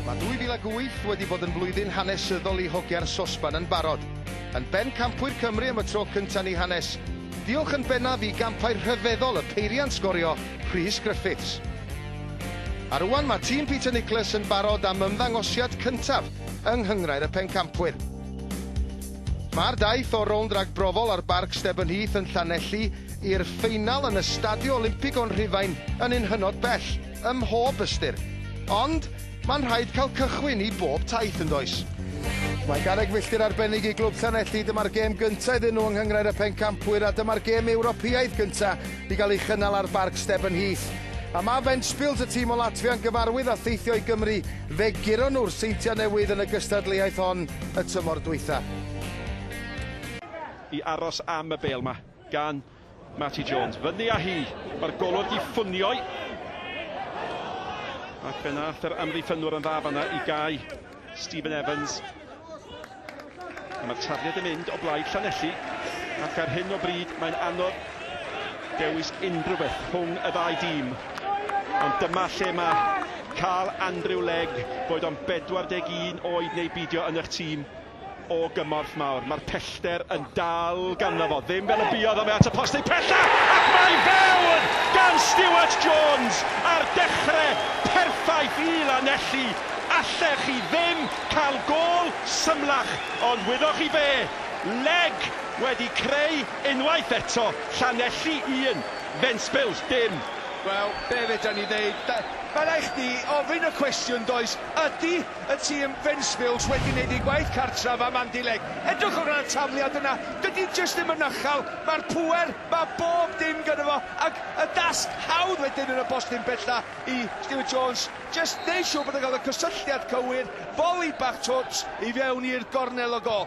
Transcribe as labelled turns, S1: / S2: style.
S1: Mae 2008 wedi bod yn flwyddyn hanesyddol i Hogia'r Sosban yn barod. Yn bencampwyr Cymru am y tro cyntaf yn ei hanes. Diolch yn bennaf i gampau rhyfeddol y peiriant sgorio, Rhys Griffiths. A rŵan mae tîm Peter Nickless yn barod am ymddangosiad cyntaf yng nghynghrair y pencampwyr. Mae'r daith o'r rownd ragbrofol ar Barc Stebyn Heath yn Llanelli i'r ffeinal yn y Stadio Olympig o'n Rhufain yn un hynod bell. ym mhob ystyr. Ond, mae'n rhaid cael cychwyn i bob taith, yn does? Mae garreg filltir arbennig i Glwb Llanelli, dyma'r gêm gyntaf iddyn nhw yng Nghynghrair y Pencampwyr a dyma'r gêm Ewropeaidd gyntaf i gael ei chynnal ar Barc Steben Heath. A mae Ventspils, y tîm o Latfia yn gyfarwydd â theithio i Gymru, fe guron nhw'r Seintiau Newydd yn y gystadleuaeth hon y tymor dwytha. i aros am y bêl 'ma gan Matty Jones, fyny â hi, mae'r golwr di ffwnio'i. Ac fe nath yr amddiffynwr yn dda fanna i gau Stephen Evans. A mae'r tafliad yn mynd o blaid Llanelli, ac ar hyn o bryd mae'n anodd dewis unrhyw beth rhwng y ddau dîm. Ond dyma lle mae cael Andrew Legg, boed o'n 41 oed neu beidio yn eich tîm, o gymorth mawr, mae'r pellter yn dal ganddo fo, ddim fel y buodd o, mae at y post ei phella, ac mae i fewn gan Stuart Jones ar dechrau perffaith i Lanelli, allech chi ddim cael gôl symlach, ond wyddoch chi be, Legg wedi creu unwaith eto, Llanelli 1, Ventspils dim. Wel, be' fedan ni ddeud? Mae rhaid chdi ofyn y cwestiwn, does? Ydy Y tîm Ventspils wedi wneud eu gwaith cartref am Andileg. Edrychwch ar y tafliad yna, dydy jyst ddim yn ychel, mae'r pŵer, mae bob dim gyda fo, ac y dasg hawdd wedyn yn y postyn bella i Stewart Jones, jyst neu' siwr bod yn cael y cysylltiad cywir, foli bach twt i fewn i'r gornel o gol.